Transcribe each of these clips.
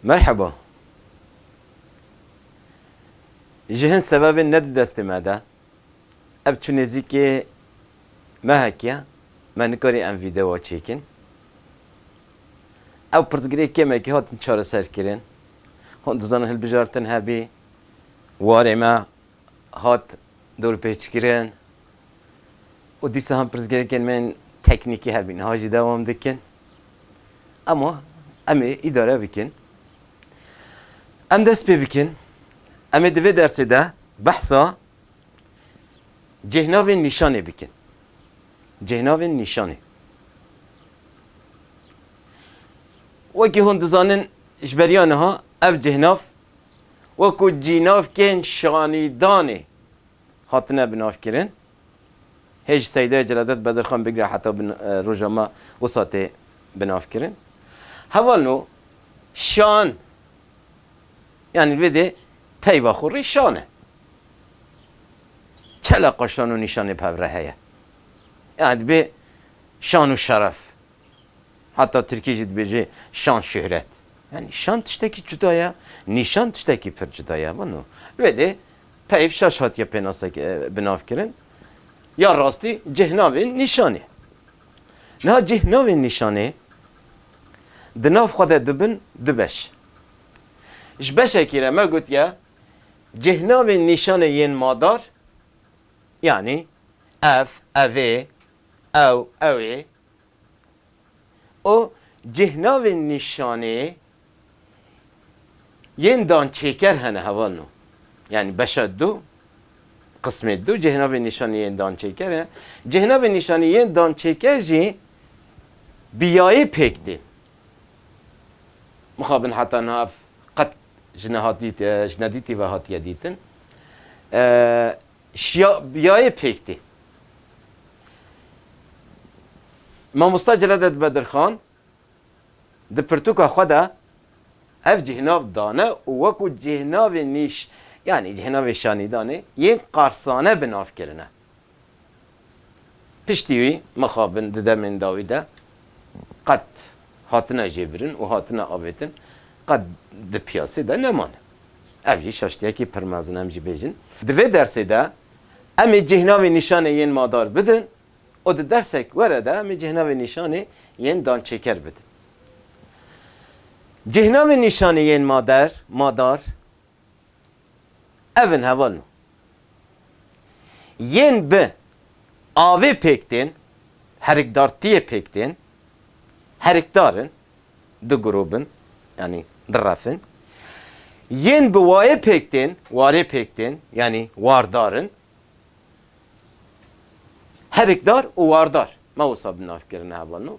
Merheba. Ji hin sebebên ne di destê me de. Ev tu nêzîkê mehek ye, me nikarî em vîdeoa çêkin. Ew pirsgirê kêmekî hatin çareserkirin. Hûn dizanin hilbijartin hebî warê me hat dorpêçkirin û dîsahan pirsgirêkên me yên teknîkî hebî niha jî dewam dikin. Ema em ê îdare bikin. Em dest pê bikin. Em ê di vê dersê de behsa cêhnavên nîşanê bikin. Cêhnavên nîşanê. Wekî hûn dizanin ji beriya niha ev cêhnav, wekû cînavkên şanîdanê hatine binavkirin, hê ji Seydaya Celadet Bedirxan bigre heta roja me wisa tê binavkirin. Heval no şan yanî li vê dê peyva xwe rê şan e. Çi eleqa şan û nîşanê bi hev re heye? Yanî dibê şan û şeref Heta tirkî jî dibêje şan şuhret. Yanî şan tiştekî cuda ye, nîşan tiştekî pir cuda ye. Wano wê dê peyv şaş hatiye pênase binav kirin. Ya rastî cih navên nîşanê. Niha cih navên nîşanê di nav xwe de dibin du beş. Ji beşekî re me gotiye cih navên nîşanê yên madar yanî ev, evê, ew, ewê, û cîhnavên nîşanê yên dan çêker hene heval no. Yanî beşa du, qismê du cîhnavên nîşanê yên dan çêker e. Cîhnavên nîşanê yên dan çêker jî bi yayê pêk tên. Mixabin heta niha ev qet ji nehatî ji nedîtî ve hatiye dîtin. Şiya biyayê pêk tê. Mamosta Celadet Bedirxan di pirtûka xwe de ev cihnav dane û wekû cîhnavê nîş yanî cîhnavê şanîdanê yên qarsane bi nav kirine. Piştî wî mixabin di demên dawî de qet hatine jêbirin û hatine avêtin qet di piyasê de nemane. Ev jî şaştiyekî pir mezin em jî bêjin. Di vê dersê de em ê cîhnavê nîşanê yên madar bidin û di dersek were de em ê cîhnavê nîşanê yên dançêker bidin. Cîhnavê nîşanê yên mader, madar, Ev in heval nû. Yên bi avê pêk tên, herikdartiyê pêk tên, herikdar in, du grûb in, yanî du ref in. Yên bi wayê pêk tên, warê pêk tên, yanî wardar in. Herikdar û wardar, me wisa bi nav kirine heval nû.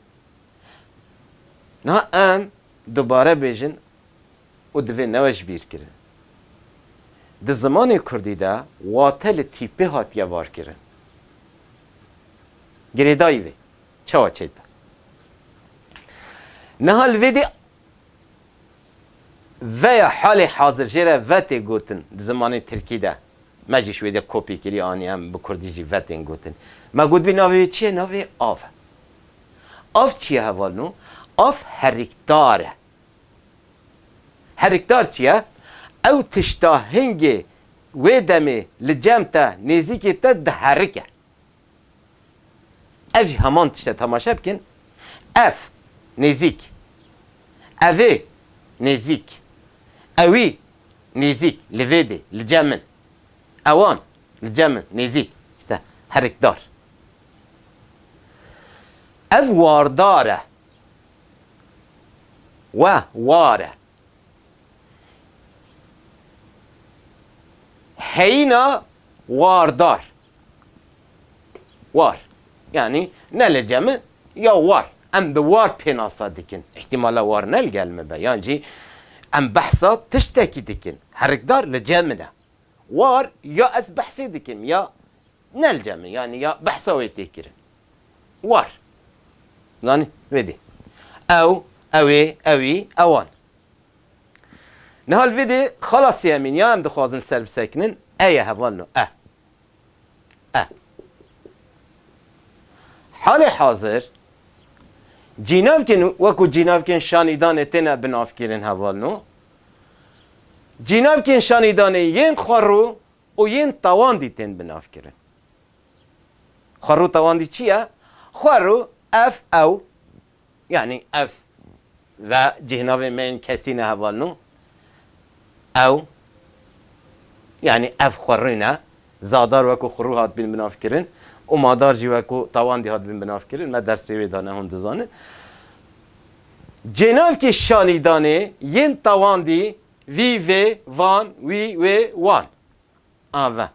Niha em dubare bêjin û divê neweşbîrkirin. Di zimanê kurdî de wate li tîpê hatiye varkirin. Girêdayî vê çawa çêdibe? Niha li vê dê ve ya halê hazir jê re ve tê gotin di zimanê tirkî de. Me jî ji wê dê kopyê kirî anî em bi kurdî jî ve tên gotin. Me gotibî navê wê çi ye? Navê wê av e. Av çi ye hevalno? Av herikdar e. Herikdar çi ye? Ew tişta hingê wê demê li cem te, nêzîkê te diherike. Ev jî heman tişt e, temaşe bikin, ev, nêzîk, evê, nêzîk, ewî, nêzîk, li vê dê, li cem min, ewan, li cem min, nêzîk, îşte herikdar. Ev wardar e. We ware. Heyîna wardar. War. Yanî ne li cem e ya war. Em bi war pênasa dikin. Îhtîmal e war ne li gel min be yan jî em behsa tiştekî dikin. Herikdar li cem min e. War ya ez behsê dikim ya Nelce min yanî ya behsa wê tê kirin. War. Zanî? Vê dê. Ew, ewê, ewî, ewan. Niha li vê dê xala sêyemîn ya em dixwazin ser bisekinin e ye heval no. E. E. Halê hazir cînavkên wekû cînavkên şanîdanê têne binavkirin heval no. Cînavkên şanîdanê yên xwe rû Û yên tawandî tên binavkirin. Xwerû tawandî çi ye? Xwerû ev, ew, yanî ev ve cîhnavên me yên kesî ne heval no. Ew, yanî ev xwerû ne. Zadar wekû xwerû hatibîn binavkirin û madar jî wekû tawandî hatibîn binavkirin. Me dersê wê dane hûn dizanin. Cênavkê şanîdanê yên tawandî Vî, vê, van, wî, wê, wan. A ve.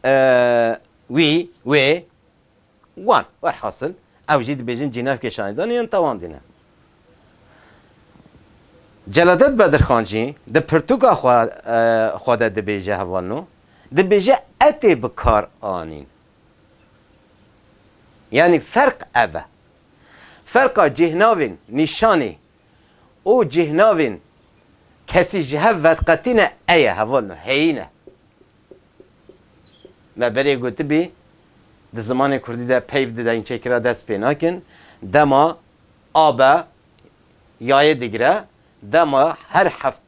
E, wî, wê, wan. Werhasil ew jî dibêjin cînevkê şanedanê yên tewandî ne. Celadet Bedirxan jî di pirtûka xwe xwe de dibêje heval no, dibêje e tê bi kar anîn. Yanî ferq ev e. Ferqa cîhnavên nîşanê û cîhnavên kesî ji hev veqetîne eye heval no heyîne. Me berê gotibî di zimanê kurdî de peyv di dengçêkira dest pê nakin, dema a be yayê digire, dema her heft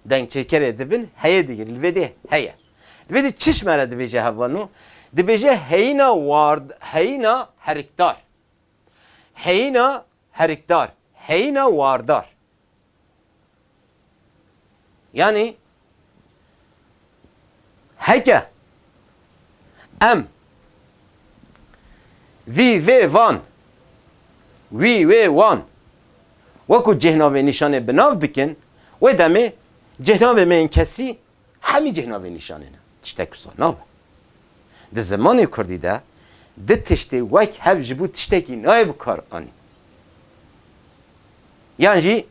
dengçêkerê dibin heyê digir, li vê dê heye. Li vê dê çişme re dibêje heval no? Dibêje heyîna ward heyîna herikdar. Heyîna herikdar, heyîna wardar. Yanî heke em vî vê van, wî wê wan wekû cêhnavê nîşanê bi nav bikin, wê demê cêhnavê me yên kesî Hemî cih navê nîşanê ne. Tiştek wisa nabe. Di zimanê kurdî de du tiştê wek hev ji bo tiştekî nayê bi kar anîn. Yan jî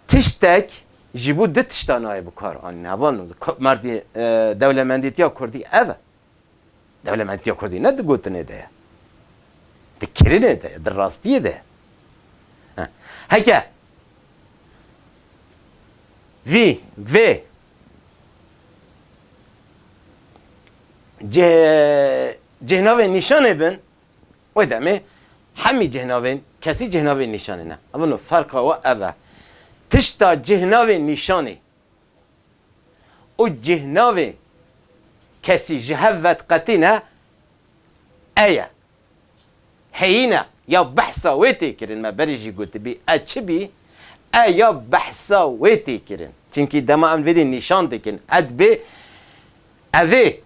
tiştek ji bo du tiştan nayê bi kar anîn. Heval no. Merdî dewlemendîtiya kurdî ev e. Dewlementiya Kurdî ne di gotinê de ye, di kirinê de ye, di rastiyê de ye. Heke vî vê cihnavên nîşanê bin, wê demê hemî cihnavên kesî cihnavên nîşanê ne. Evin o, ferqa we ev e. Tişta cihnavên nîşanê û cîhnavê kesî ji hev vedqetîne e ye. Heyîne ya behsa wê tê kirin me berê jî gotibî e çi bî e ya behsa wê tê kirin. Çimkî dema em vêdî nîşan dikin edbê ev ê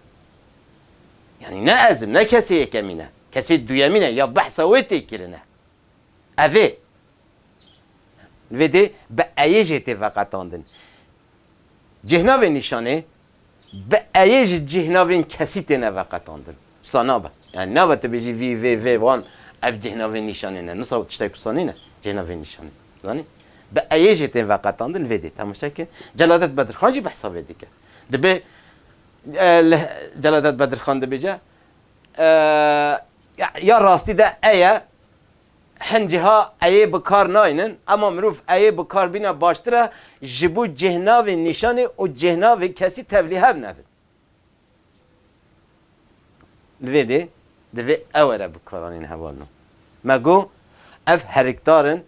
yanî ne ez im ne kesê yekemîn e kesê duyemîn e ya behsa wê tê kirine ev ê Vê dê bi eyê jê tê veqetandin. Cîhnavên nîşanê bi eyê ji cîhnavên kesî têne veqetandin. Wisa nabe. Yani nabe tu bêjî vî, vê, vê, wan ev cîhnavên nîşanê ne. Wisa tiştek wisa nîne cîhnavên nîşanê. Zanî? Bi eyê jê tê veqetandin vê dê temaşe ke Celadet Bedirxan jî behsa vê dike. Dibe li Celadet Bedirxan dibêje ya rastî de eye. Hin ciha eyê bi kar naynin ema mirov eyê bi kar bîne baştir e ji bo cêhnavê nîşanê û cêhnavê kesî tevlî hev nebin. Li vê dê divê ew were bi karanîn heval no. Me got ev herikdar in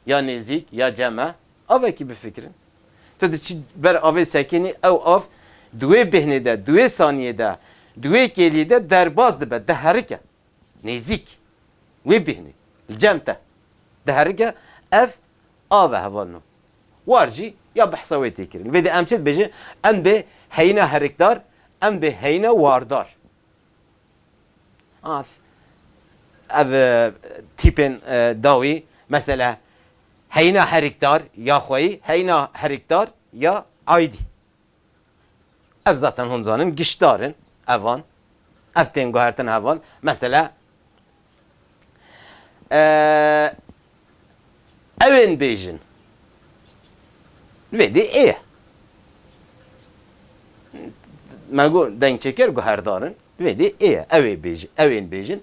ya nêzîk ya cem e avekî bifikirin. Tu diçî ber avê sekînî ew av di wê bêhnê de, di wê saniyê de, di wê kêliyê de derbas dibe, diherike. Nêzîk wê bêhnê li cem te diherike ev av e heval no. War jî ya behsa wê tê kirin. Vê de em çi dibêjin? Em bê heyîna herikdar, em bê heyîna wardar. Af ev tîpên dawî mesela heyîna herikdar ya xweyî, heyîna herikdar ya aîdî. Ev zaten hûn dizanin giştdar in evan. Ev tên guhertin heval. Mesela ew ên bêjin vê dê ê ye. Me got dengçêker guherdar in vê dê ê ye. Ew ê bêjin, ew ên bêjin.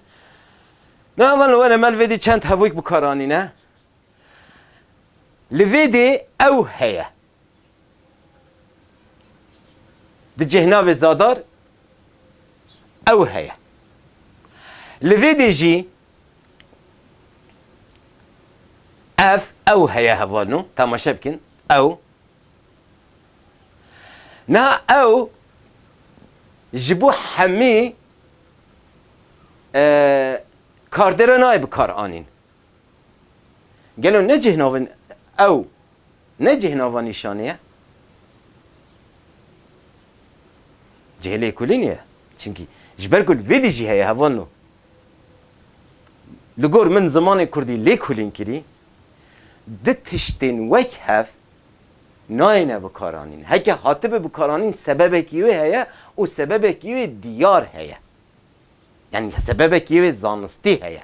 Na evan li were me li vê dê çend hevûk bi kar anîne. Li vê dê ew heye. Di cih navê Zadar ew heye. Li vê dê jî ev ew heye hevalno temaşe bikin ew niha ew ji bo hemî kardere nayê bi kar anîn. Gelo ne cih navê ew ne cih nava nîşanê ye? Cihê lêkolînê ye. Çimkî ji ber ku vê dî jî heye heval no. Li gor min zimanê kurdî lêkolîn kirî, di tiştên wek hev nayêne bikaranîn. Heke hatibe bikaranîn sebebekî wê heye û sebebekî wê diyar heye. Yanî sebebekî wê zanistî heye.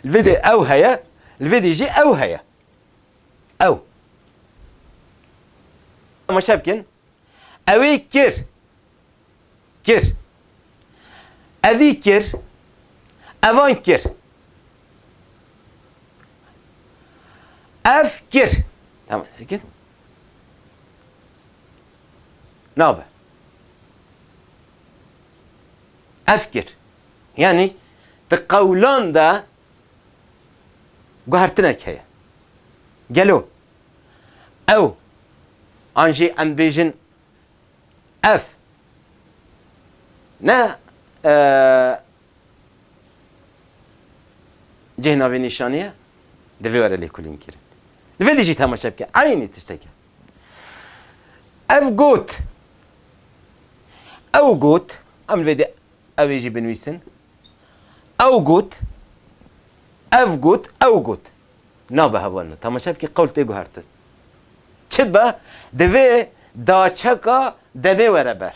Li vê de ew heye, li vê de jî ew heye. Ew. Temaşe bikin. Ew ê kir. Kir. Evî kir. Evan kir. Ev kir. Tamam. Bikin. Nabe. Ev kir. Yanî di qewlan de guhertinek heye. Gelo ew an jî em bêjin ev ne cihê navênîşanî ye? Divê were lêkolînkirin. Divê dijî temaşe bike. Eynî tiştek e. Ev got, ew got, em li vê dê ew ê jî binivîsin, ew got, ev got, ew got. Nabe hevalino. Temaşe bikî qewl tê guhertin. Çi dibe? Divê daçeka demê were ber.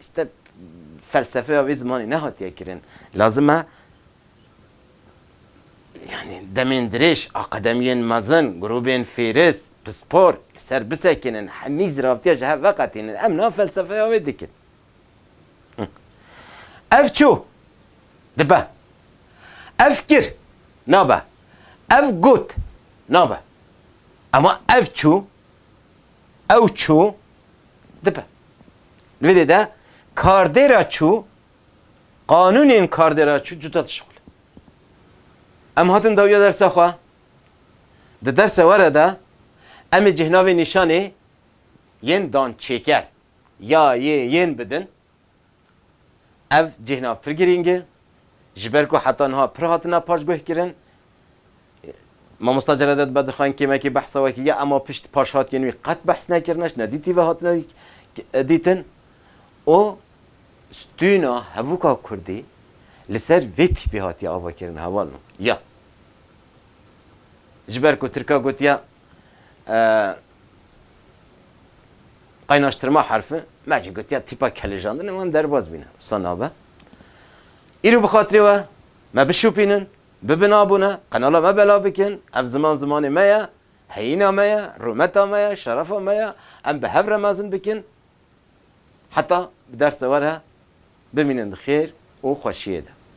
Step felsefeya vê zimanê nehatiye kirin. Lazim e yanî demên dirêj, aqademiyên mezin, grûbên fêris, pispor li ser bisekinin, hemî ziravtiya ji hev veqetînin. Em nav felsefeya wê dikin. Ev çû dibe. Ev kir nabe. Ev got nabe. Ema ev çû, ew çû dibe. Li vê dê de kardêra çû qanûnên kardêra çû cuda dişixulin. Em hatin dawiya dersa xwe. Di dersa were de em ê cihnavên nîşanê yên dançêker ya yê yên bidin. Ev cihnav pir girîng e, ji ber ku heta niha pir hatina paşguhkirin. Mamosta Celadet Bedirxan kêmekî behsa wekî ya ema pişt paşhatiyên wî qet behs nekirine, ji nedîtî ve hatine dîtin û stûna hevûka kurdî li ser vê tîpê hatiye avakirin hevalno ya ji ber ku tirka gotiye Qaynaştirma herfi, me jî gotiya tîpa kelêjandin û em derbas bîne. Wisa nabe. Îro bi xatirê we me bişopînin, bibin abûne, qenala me belav bikin, ev ziman zimanê me ye, heyîna me ye, rûmeta me ye, şerefa me ye, em bi hev re mezin bikin heta bi derse we re bimînin di xêr û xweşiyê de.